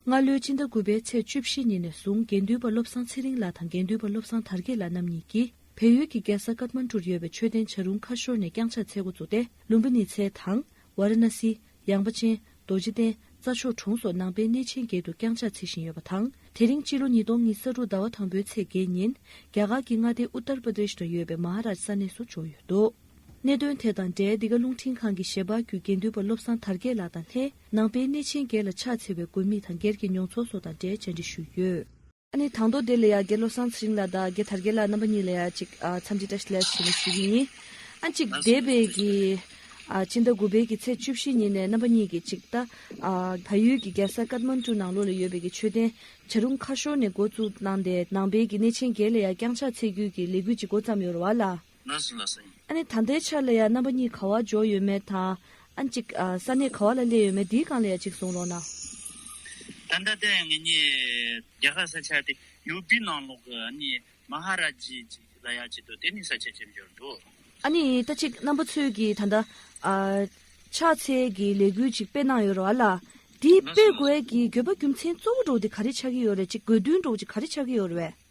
སྔ་ལོའི་སྤྱི་ཟླ་དགུ་པའི་ཚེས་བཅུ་བཞི་ཉིན་ནས་བཟུང་དགེ་འདུན་པ་བློ་བཟང་ཚེ་རིང་ལགས་དང་དགེ་འདུན་པ་བློ་བཟང་དར་རྒྱས་ལགས་རྣམ་གཉིས་ཀྱིས་བལ་ཡུལ་གྱི་རྒྱལ་ས་ཀ་ཐྨན་ཀྲུར་ཡོད་པའི་མཆོད་རྟེན་བྱ་རུང་ཁ་ཤོར་ནས་བརྐྱངས་ཕྱག་འཚལ་འགོ་བཙུགས་ཏེ་ལུམ་བྷི་ནི་ཚའེ་དང། ཝཱ་ར་ན་སི། ཡངས་པ་ཅན། རྡོ་རྗེ་གདན། རྩྭ་མཆོག་གྲོང་སོགས་ནང་པའི་གནས་ཆེན་བརྒྱད་དུ་བརྐྱངས་ཕྱག་འཚལ་བཞིན་ཡོད་པ་དང། དེ་རིང་སྤྱི་ལོ་ཉིས་སྟོང་ཉིས་ས་དྲུག་ཟླ་བ་དང་པོའི་ཚེས་བརྒྱད་ཉིན། རྒྱ་གར་གྱི་མངའ་སྡེ་ཨུ་ཏར་པ་རྡེཤ་ན་ཡོད་པའི་མ་ཧ་རཱཇ་ས་གནས་སུ་འབྱོར་ཡོད་འདུག་གནད་དོན་དེ་དང་འབྲེལ་འདི་ག་རླུང་འཕྲིན་ཁང་གི་ཞལ་པར་བརྒྱུད་དགེ་འདུན་པ་བློ་བཟང་དར་རྒྱས་ལགས་དང་ལྷན། ནང་པའི་གནས་ཆེན་སྒེར་ལ་ཕྱག་འཚལ་བའི་དགོས་དམིགས་དང་སྒེར་གྱི་མྱོང་ཚོར་སོགས་དང་འབྲེལ་བཅར་འདྲི་ཞུས་ཡོད། ཨ་ནི་དང་ཐོག་དེ་ལ་ཡང་དགེ་བློ་བཟང་ཚེ་རིང་ལགས་དང་དགེ་དར་རྒྱལ་ལགས་རྣམ་པ་གཉིས་ལ་ཡང་ཅིག་འཚམས་འདྲི་བཀྲ་ལེགས་ཞུ་ཞུ་རྒྱུ་ཡིན། ཨ་གཅིག་འདས་པའི་གི་སྤྱི་ཟླ་དགུ་པའི་གི་ཚེས་བཅུ་བཞི་ཉིན་ནས་རྣམ་པ་གཉིས་ཀྱིས་ཅིག་ད་བལ་ཡུལ་གྱི་རྒྱལ་ས་ཀཱད་མཱན་ཀྲུ་ནང་ལོགས་ལ་ཡོད་པའི་གི་མཆོད་རྟེན་བྱ་རུང་ཁ་ཤོར་ནས་འགོ་བཙུགས་གནང་སྟེ་ནང་པའི་གི་གནས་ཆེན་སྒེར་ལ་ཡང་བསྐྱངས་ཕྱག་འཚལ་རྒྱུའི་གི་ལས་འགུལ་ཅིག་འགོ་བརྩམས་ཡོད་ར་བ་ལ། ན་ཟིན་ལ་སེམས། ཨ་ནི་ད་ལྟའི་ཆར་ལ་ཡ་རྣམ་པ་གཉིས་ག་བ་འཇོག་ཡོད་མེད་དང། ཨ་ནི་གཅིག་ས་གནས་ག་བ་ལ་སླེབས་ཡོད་མེད་འདིའི་སྒང་ལ་ཡ་གཅིག་གསུངས་རོགས་གནང། ད་ལྟ་ད་ངེད་གཉིས་རྒྱ་གར་ས་ཆ་དེ་ཡུ་པི་ནང་ལོག་གི་ཨ་ནི་མ་ཧ་ར་ཇི་ཅིག་ལ་ཡ་གཅིག་འདུག་དེ་ནི་ས་ཆ་གཅིག་འབྱོར་འདུག། ཨ་ནི་ད་གཅིག་རྣམ་པ་ཚོས་ཀྱིས་ད་ལྟ། ཕྱག་འཚལ་གྱི་ལས་འགུལ་ཅིག་སྤེལ་གནང་ཡོད་རོགས་ཨ་ལ། འདི་སྤེལ་དགོས་ཀྱི་འགྱོད་པ་རྒྱུ་མཚན་གཙོ་བོ་འགྲོ་འདི་ག་རེ་ཆགས་ཀྱི་ཡོད་རེད་ཅིག་དགོས་འདུན་འགྲོ་ཅིག་ག་རེ་ཆགས་ཀྱི་ཡོད་རེད་བས།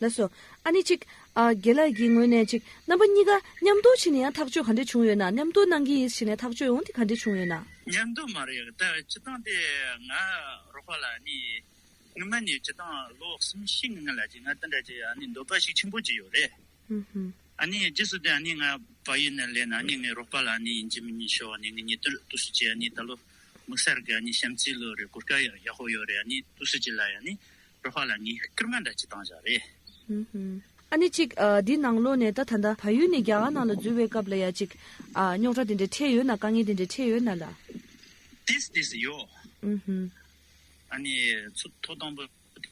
ལགས་སོ། ཨ་ནི་ཅིག། ཨ། དགེ་ལགས་ཀྱི་ངོས་ནས་ཅིག། རྣམ་པ་གཉིས་ཀ། མཉམ་དུ་ཕྱིན་ནས་ཡང་ཐག་གཅོད་ག་འདྲས་བྱུང་ཡོད་ན། མཉམ་དུ་གནང་གི་ཡིན་ཕྱིན་ནས་ཐག་གཅོད་ཡོང་དེ་ག་འདྲས་བྱུང་ཡོད་ན། མཉམ་དུ་མ་རེད། ད་སྤྱི་བཏང་དེ་ང་རོགས་པ་ལ་ནི། སྔོན་མ་ནས་སྤྱི་བཏང་ལོ་གསུམ་བཞི་ངང་ལ་ཅིག་ང་འདི་འདྲ་ཅིག་ཨ་ནི་འདོད་པ་ཞིག་ཆེན་པོ་ཅིག་ཡོད་རེད། ཨ་ནི་རྗེས་སུ་དེ་ཨ་ནི་ང་བ་ཡིན་ན་ལེ་ན་ཨ་ནི་ངའི་རོགས་པ་ལ་ནི་ཡིན་གྱི་མིན་གྱི་ཤོག་ཨ་ནི་ངའི་ཉེ་དུར་ཏུ་སུ་ཅིག་ཨ་ནི་ད་ལོ་དམིགས་བསལ་གྱི་ཨ་ནི་བྱམས་བརྩེའི་ལོ་རེ་གོ་སྐབས་ཡག་ཡག་ཤོག་ཡོད་རེད་ཨ་ནི་ཏུ་སུ་ཅིག་ལ་ཡང་ནི། རོ་ཧ་ལ་ངའི་སྐར་མ་འདྲ་གཅིག་བཏང་བཞག་རེད། ཨ་ནེ་ཅིག་འདི་ནང་ལོག་ནས་ད་ད་ད་ཕ་ཡུལ་ནས་རྒྱ་གར་ནང་ལ་འཛུལ་བའི་སྐབས་ལ་ཡ་ཅིག། རྙོག་དྲ་དེ་འདྲའི་འཕྲད་ཡོད་ན་དཀའ་ངལ་དེ་འདྲའི་འཕྲད་ཡོད་ན་ལ། དེས་དེས་ཡོད། ཨ་ནེ་ཚུ་ཐོག་དང་པོ་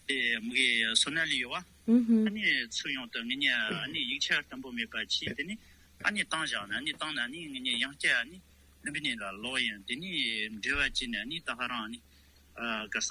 དེ་མི་གའི་སོ་ན་ལས་ཡོད་བ། ཨ་ནེ་ཚུ་ཡང་དུ་ངེད་གཉིས་ཨ་ནེ་ཡིག་ཆ་དམ་པོ་མེད་པ་ཁྱིས་དེ་ནས་ཨ་ནེ་བཏང་བཞག་ནས་ཨ་ནེ་བཏང་ནས་ཨ་ནེ་ངེད་གཉིས་ཡང་སྐྱ་ཨ་ནེ་ལུམ་པི་ནེ་ལ་ལོག་ཡིན་དེ་ནས་འབྲེལ་བ་བྱས་ནས་ཨ་ནེ་ད་ཧ་རང་ཨ་ནེ་ག་ས།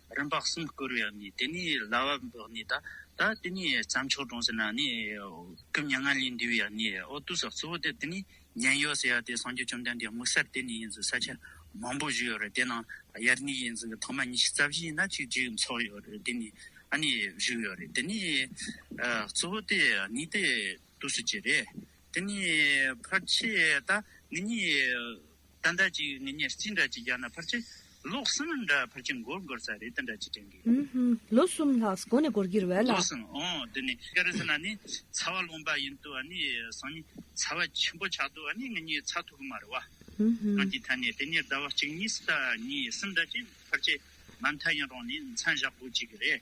རིམ་པ་གསུམ་བསྐོར་བའི་ནི་དེ་ནི་ལ་བ་བོགས་ནི་དག། ད་དེ་ནི་བརྩམས་ཆོས་སྒྲོངས་ཟེར་ན་ནི། སྐུ་མྱ་ངན་ལས་འདས་པའི་ནི་འོ་དུ་ཟགས་གཙོ་བོ་དེ་དེ་ནི་མྱན་ཡོད་ཟེར་ཡ་དེ་སངས་རྒྱས་བཅོམ་ལྡན་འདས་དམིགས་བསལ་དེ་ནི་ཡིན་ཟེར་ས་ཆ་མང་པོ་བཞི་ཡོད་རེད་དེ་ནང་དབྱར་གནས་ཡིན་ཟེར་གི་ཐོག་མ་ཉི་ཤུ་རྩ་བཞི་ཡིན་ན་གཅིག་གཅིག་འཚོགས་ཡོད་རེད་དེ་ནི་ཨ་ནི་བཞུགས་ཡོད་རེད་དེ་ནི། གཙོ་བོ་དེ་ནི་དེ་དུས་སུ་གྱི་རེད་དེ་ནི་ཕར་ཆད་ད་ནི་ནི། ད་འདྲ་ཅིག་ངེད་གཉིས་གཅིག་འདྲ་གཅིག་རྒྱག་ན་ཕར་ཆེ། ལོ་གསུམ་འདྲ་ཕར་ཆེ་འགོར་འགོར་ས་རེད་ད་འདྲ་ཅིག་དྲན་གི། ལོ་གསུམ་ལྷག་གོ་ནས་འགོར་གྱིར་བས་ལ། ལོ་གསུམ་འོང་དུས་ནས་སྐལ་རེ་ཟེར་ན་ནི་ཚ་བ་ལོངས་པ་ཡིན་དུས་ནི་སང་ཉིན་ཚ་བ་ཆེན་པོ་ཆགས་དུས་ནི་ངེད་གཉིས་ཚ་ཐུག་གི་མ་རེད་བ། གང་ཅིག་ཐ་ནས་དེ་གཉིས་ཟླ་བ་གཅིག་གཉིས་སུ་ད་གཉིས་གསུམ་འདྲ་ཅིག་ཕར་ཆེ། མ་མཐའ་ཡིན་རུང་ནི་མཚན་བཞག་དགོས་ཅིག་གི་རེད།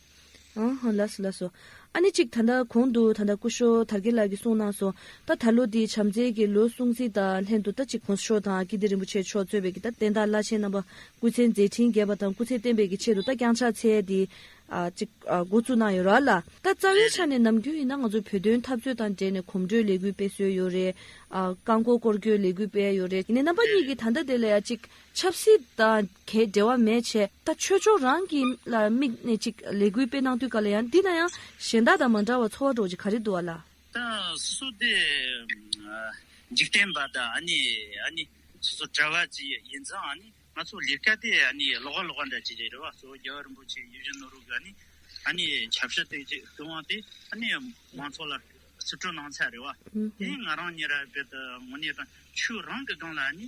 ལགས་སོ་ལགས་སོ། ཨ་ནི་ཅིག་ད་ལྟ་གོང་དུ་ད་ལྟ་སྐུ་ཞོ་དར་རྒྱས་ལགས་ཀྱིས་གསུངས་གནང་སོང་ད་ད་ལོ་དེའི་བྱམས་བརྩེ་གི་ལོའི་གསུང་ཚིག་དང་ལྷན་དུ་ད་ཅིག་གོང་ས་མཆོག་དང་ཀིརྟི་རིན་པོ་ཆེ་མཆོག་གཙོས་པའི་ད་བསྟན་བདག་བླ་ཆེན་རྣམ་པ་སྐུ་ཚེ་མཛད་འཕྲིན་རྒྱས་པ་དང་སྐུ་ཚེ་བརྟན་པའི་གི་ཆེད་དུ་ད་བསྐྱངས་ཕྱག་འཚལ་དེ་ཅིག་འགོ་བཙུགས་གནང་ཡོད་ར་ལ། ད་རྩ་བའི་ཆ་ནས་ནམ་རྒྱུན་ཡིན་ན་ང་ཚོ་བོད་དོན་འཐབ་རྩོད་དང་འབྲེལ་ནས་གོམ་བགྲོད་ལས་འགུལ་སྤེལ་སྲོལ་ཡོད་རེད། རྐང་འཁོར་སྐོར་སྐྱོད་ལས་འགུལ་སྤེལ་ཡོད་རེད། ཡིན་ནའི་རྣམ་པ་གཉིས་ཀྱིས་ད་ལྟ་དེ་ལ་ཡ་ཅིག་ཆབ་སྲིད་དང་གས་འབྲེལ་བ་མེད་ཆེ། ད་ཆོས་ཕྱོགས་རང་གི་ལ་དམིགས་ནས་ཅིག་ལས་གུས་སྤེ་གནང་དུས་ག་ལ་ཡང་འདི་ན་ཡང་གཞན་དག་དང་མ་འདྲ་བར་འཚོ་བ་འགྲོ་ཅིག་ག་རེ་འདུ་བ་ལ། ད་སུ་དེ་འཇིག་རྟེན་པ་དང་ཨ་ནི་ཨ་ནི་སོ་སོ་གྲྭ་བ་ཅི་ཡིན་ཚང་ཨ་ནི་ང་ཚོ་ལས་ཀ་དེ་ཨ་ནི་ལོག་ག་ལོག་ག་འདྲ་ཅི་རེད་རེད་བ་སོ་རྒྱལ་བ་རིན་པོ་ཆེ་ཡིད་བཞིན་ནོར་བུ་ག་ནི་ཨ་ནི་བྱབ་ཞི་སྟེ་ཅིག་སྟོན་དབང་དེ་ཨ་ནི་མང་ཚོགས་ལ་སི་ཁྲོ་གནང་ཚད་རེད་བ་དེ་ཡིན་ང་རང་ཉེ་ར་བེད་ངོ་ནས་དང་ཆོས་རང་གི་སྒང་ལ་ཨ་ནི།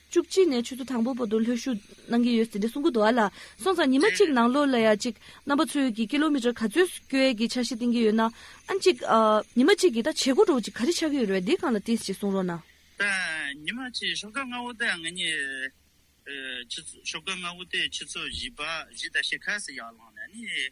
བཅུ་གཅིག་ནས་ཆུ་ཚོད་དང་པོ་བར་དུ་ལྷོད་ཞུགས་གནང་གི་ཡོད་ཟེར་དེ་སྲུང་སྐུ་དུ་བ་ལ་སོང་ཙང་ཉི་མ་གཅིག་ནང་ལོགས་ལ་ཡ་གཅིག་རྣམ་པ་ཚོས་ཀྱིས་ཀི་ལོ་མི་ཀྲར་ག་ཚོད་སྐྱོལ་ཡས་ཀྱི་འཆར་གཞི་བཏིང་གི་ཡོད་ན་ཨ་གཅིག་ཉི་མ་གཅིག་གིས་ད་བྱེད་སྒོ་གྲོགས་གཅིག་ག་རེ་ཆགས་ཀྱི་ཡོད་རེད་དེ་གང་ལ་བརྟེན་ཞེས་གསུང་རོགས་གནང། ད་ཉི་མ་གཅིག་ཞོགས་ཀ་ལྔ་བོ་ད་ང་གཉིས་ཞོགས་ཀ་ལྔ་བོ་དེ་ཆུ་ཚོད་བཞི་བཞི་དང་ཕྱེད་ཁ་སི་ཡར་ལངས་ནས་ནི།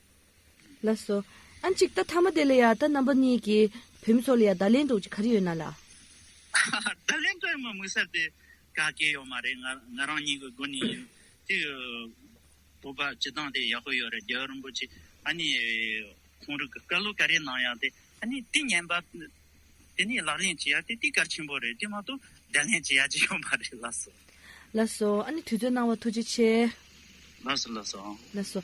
ལ་སོ། ཨ་ཅིག་ད་ཐ་མ་དེ་ལ་ཡང་ད་རྣམ་པ་གཉིས་ཀྱི་བུད་མེད་ཚོ་ལ་ཡང་བརྡ་ལན་འདོགས་ཀྱི་ག་རེ་ཡོད་ན་ལ། བརྡ་ལན་འདོགས་ཡོང་བའི་དམིགས་བསལ་དེ་ག་གེ་ཡོད་མ་རེད་ང་ང་རང་ཉིད་ཀྱི་སྒོ་ནས་ཡིན། དེ་ཡི་བོད་པ་སྤྱི་བཏང་དེ་ཡག་པོ་ཡོད་རེད་རྒྱལ་བ་རིན་པོ་ཆེ་ཨ་ནི་གོང་རི་གི་བཀའ་སློབ་ག་རེ་གནང་ཡག་དེ་ཨ་ནི་དེ་ཉན་པ་དེ་ནས་ལག་ལེན་བྱེད་ཡག་དེ་དེ་གལ་ཆེན་པོ་རེད་དེ་མ་གཏོགས་བརྡ་ལན་བྱེད་ཡག་ཅི་ཡོད་མ་རེད་ལ་སོ། ལ་སོ། ཨ་ནི་དུས་ཚོད་གནང་བ་ཐུགས་རྗེ་ཆེ། ལ་སོ་ལ་སོ། ལ་སོ།